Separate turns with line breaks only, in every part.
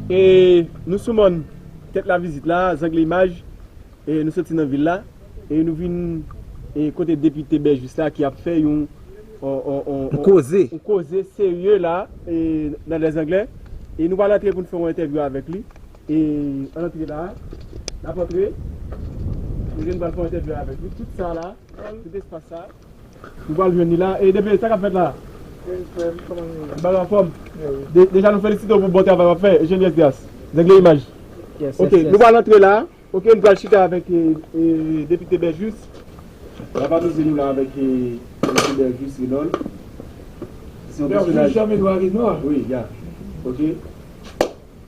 E nou sou mòn Tèt Lavizit la, zangle imaj, e nou soti nan vil la, e nou vin e kote depite Bèjis la ki ap fè yon yon koze serye la e nan lèzangle, e nou pral antre pou nou fè yon entèvyou avèk li, e ann antre la a, n ap antre, kote nou pral fè yon entèvyou avèk li, tout sa la, tout espas sa. Nou pral jwenn li la. E DP sa kap fèt la? Bien frèm kòman nou ye? Bagay anfòm? Deja nou felisite w pou bon travay wap fè Eugenie Esdras nèg le imaj ok nou pral antre la ok nou pral chita avèk Depite Berjus lap amize nou la avèk Depite Berjus Renold
Berjus Jean Edouard Renold wi ya
ok.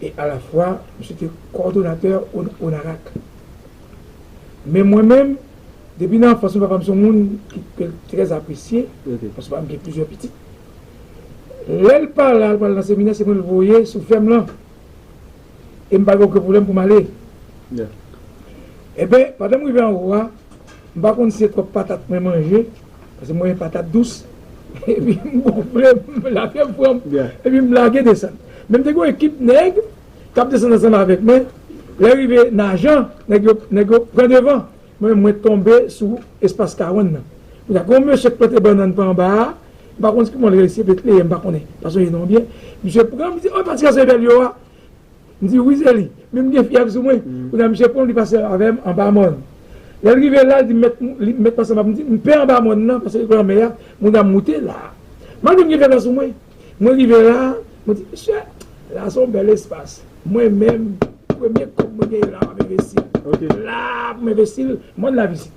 e alafwa misye te kòdonatè ONARAK. Men mwen menm, depi nan anfans mwen, papa m se yon moun ki te trè apresye, paske papa m gen plizyè pitit. Lè l pa la, l pa al nan seminè, se mwen l voye sou fèm lan e m pa gen oken pwoblèm pou m ale. Enben, pandan m rive anwo a. M pa konn si se twòp patat mwen manje, paske mwen renmen patat dous, epi m gonfle, lafyèv pran m, epi m lage desann. Men m te gen yon ekip nèg k ap desann ansanm avèk mwen, lè rive Najan, nèg yo, nèg yo pran devan, mwen menm mwen tonbe sou espas karann nan. Kounye a gen yon mesye k plante bannann pa anba a, m pa konn si kouman l rele l, se Betleyèm, m pa konnen fason li non l byen, misye pran m, li di, oh patika se Evèl yo a. M di wi se li, men m gen fyèv sou mwen. Kounye a misye pran m li pase avè m anba mòn. Lè l rive la, l di m met li met pase anba m. M di m pè anba mòn nan paske lanmè a moun ap moute la. Malgre m gen fyèv la sou mwen, mwen rive la, mwen di misye la se yon bèl espas. Mwen menm premye kòb mwen genyen la m ap envesti l. La pou m envesti l, mòn la vizib.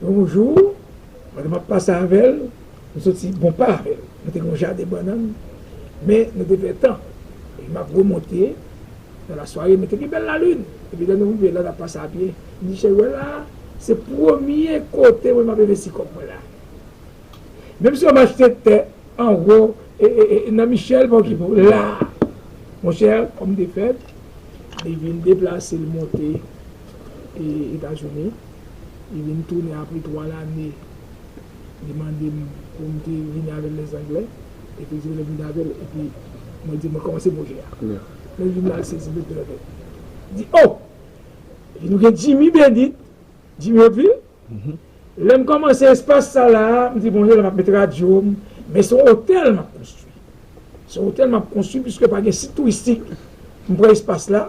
Bonjour Madame map pase avèl nou soti bon pa avèl nou te gen yon jaden bannann men nou te pè tan epi map remonte nan la sware men te gen bèl la lune epi lè nou rive la nap pase a pye m di cheri wè la se premye kote mwen map envesti kòb mwen la menm si yo machte tè anwo nan michel pa okipe w la monchè kòm te fèt li vin deplase l monte. e etazini li vin tounen apre 3 lane li mandem poum te vini avèl les anglais epi di lèm vin avèl epi mwen di mwen kòmanse pwojè a lèl vin lal sezi lèl te leve di oh epi nou gen jimmy bendit jimmy hauteville lèm kòmanse espas sa la mdi bon lèm ap met radyo m men son otèl map konstwi son otèl map konstwi piske pa gen sit touristik m pran espas la.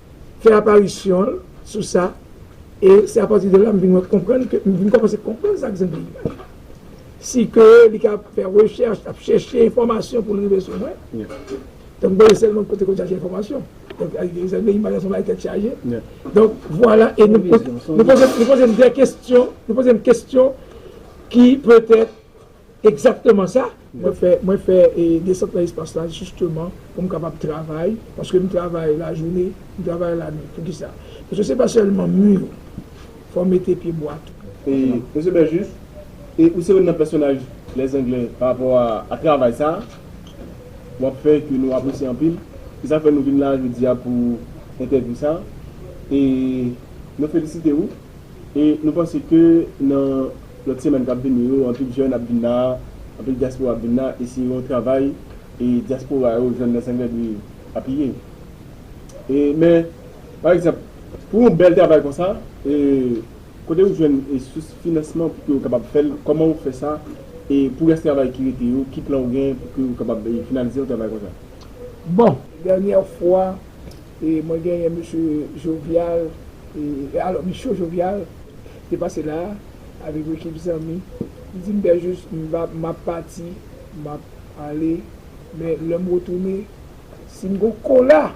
fè aparisyon l sou sa e se apati de la m vin wè konprann ke m vin kòmanse konprann sa k zen peyi a si ke li ka ap fè rechèch ap chèche enfòmasyon pou l rive sou mwen donk mwen sèlman kote konn chache enfòmasyon donk zen peyi m son bagay tèt chaje donk vwala e nou poze m de kestyon nou poze m kestyon ki petèt Ekzakteman sa mwen fè, mwen fè desant nan espas la jisteman pou m kapab travay, paske m travay lajounen, m travay lanwit. Poukisa? Paske se pa sèlman mi yo, fò w mete pye bwa tou. E, Mesye
Berjus, e ou se youn nan pèsonaj Les Anglais parapò a travay sa a w ap fè ke nou apresye anpil. Se sa k fè nou vin la a jodi a pou entèvyou sa a. E nou felisite ou. E nou panse ke nan lòt semèn k ap vini yo, anpil jèn ap vin la a, anpil dyaspora ap vin la a, e se yon travay e dyaspora yo, jèn nan Senglè dwe apiye. E men, pa egzanp, pou yon bèl travay konsa, e kote ou jwenn e sous finansman pou ke ou kapab fè l, kòman ou fè sa, e pou rès travay ki rete yo, ki plan ou gen pou ke ou kapab e finalize yon travay konsa? Bon,
dènyè fwa, Mwen genyen Mesye Jovial, alò Micho Jovial te pase la a avèk yon ekip zanmi. Li di m, Pè Jus, m ap pati, m ap ale, men lè m retounen, si m gon kola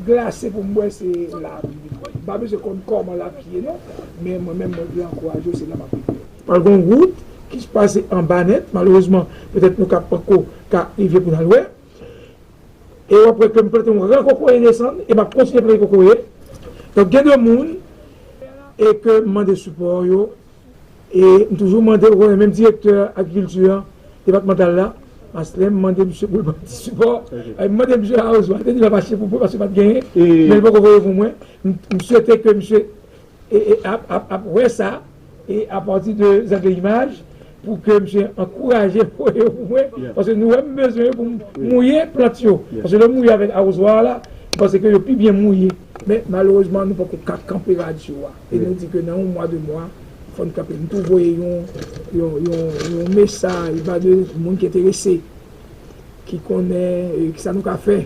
glase pou m bwè, se la a pou m vin bwè li. M pa bezwen konn kòman l ap ye non, men mwen menm mwen vle ankouraje w, se la m ap vin bwè li. Pral gon wout ki pase anba nèt, malerezman petèt nou ka panko ka rive pou n al wè. E wap wè kem plante yon ran kokoye desann e map kontinye plante kokoye donk gen de moun e ke m mande sipò yo e m toujou mande ou konnen menm direktè agrikilti an depatmantal la mas lèm mande misye poul banm ti sipò e m mande misye awoz wal te di lap achte pou mwen paske pat genyen men li poko voye pou mwen m swete ke misye e e ap ap ap wè sa e a pati de zèv de imaj pou ke misye ankouraje voye yo pou mwen paske nou wè m bezwen yo pou m mouye plant yo paske lè w mouye avèk awozwa a la m panse ke yo pi byen mouye men malerezman nou poko ka kanpe radyo a e nou di ke nan yon mwa de mwa fò n kanpe m tou voye yon yon yon yon mesaj ba de moun ki enterese. ki konnen e ki sa nou ka fè.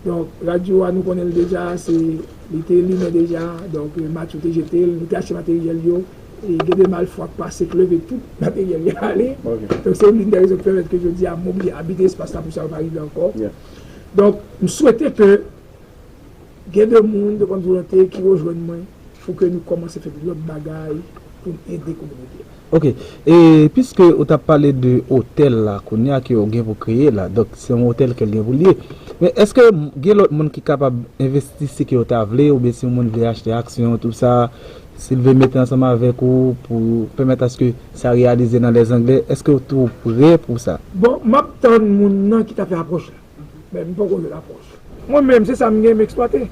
Donk, radyo a nou konnen l deja, se li te limen deja, donk Matcho te jete l, li te achte materyèl yo, e gen de malfwa k pase k leve tout materyèl yo ale. Donk se youn dè rezon ki pèmèt ke jodi a m oblije abite espas la pou sa yo pa rive ankò. Donk, m swete ke gen de moun, de bonn volonte ki rejwenn mwen. Fouke nou komanse fè lòt bagay poun ede kominote a. Ok e
piske ou tap pale de otèl la kounya ke ou gen pou kreye la donk se yon otèl kel gen poul ye men eske gen lòt moun ki kapab envesti si ke yo ta vle oubyen si yon moun vle achte aksyon tout sa sil vle mete ansanm avèk ou pou pèmèt aske sa reyalize nan lèzangle eske ou tou prè pou sa. Bon map tann
moun nan ki ta fè apwòch la. Men m poko met apwòch. Mwen menm se sa m gen m eksplwate.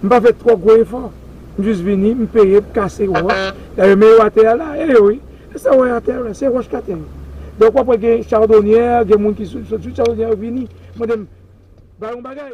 M pa fè twò gwo efò. M jis vini, m peye, m kase wòch. Dayè men yo atè a la, e yo wi. E sa w wè atè yo la, se wòch k atè yo. Donk w ap wè gen chadonyè, gen moun ki sot sou chadonyè yo vini mande m ba yo yon bagay.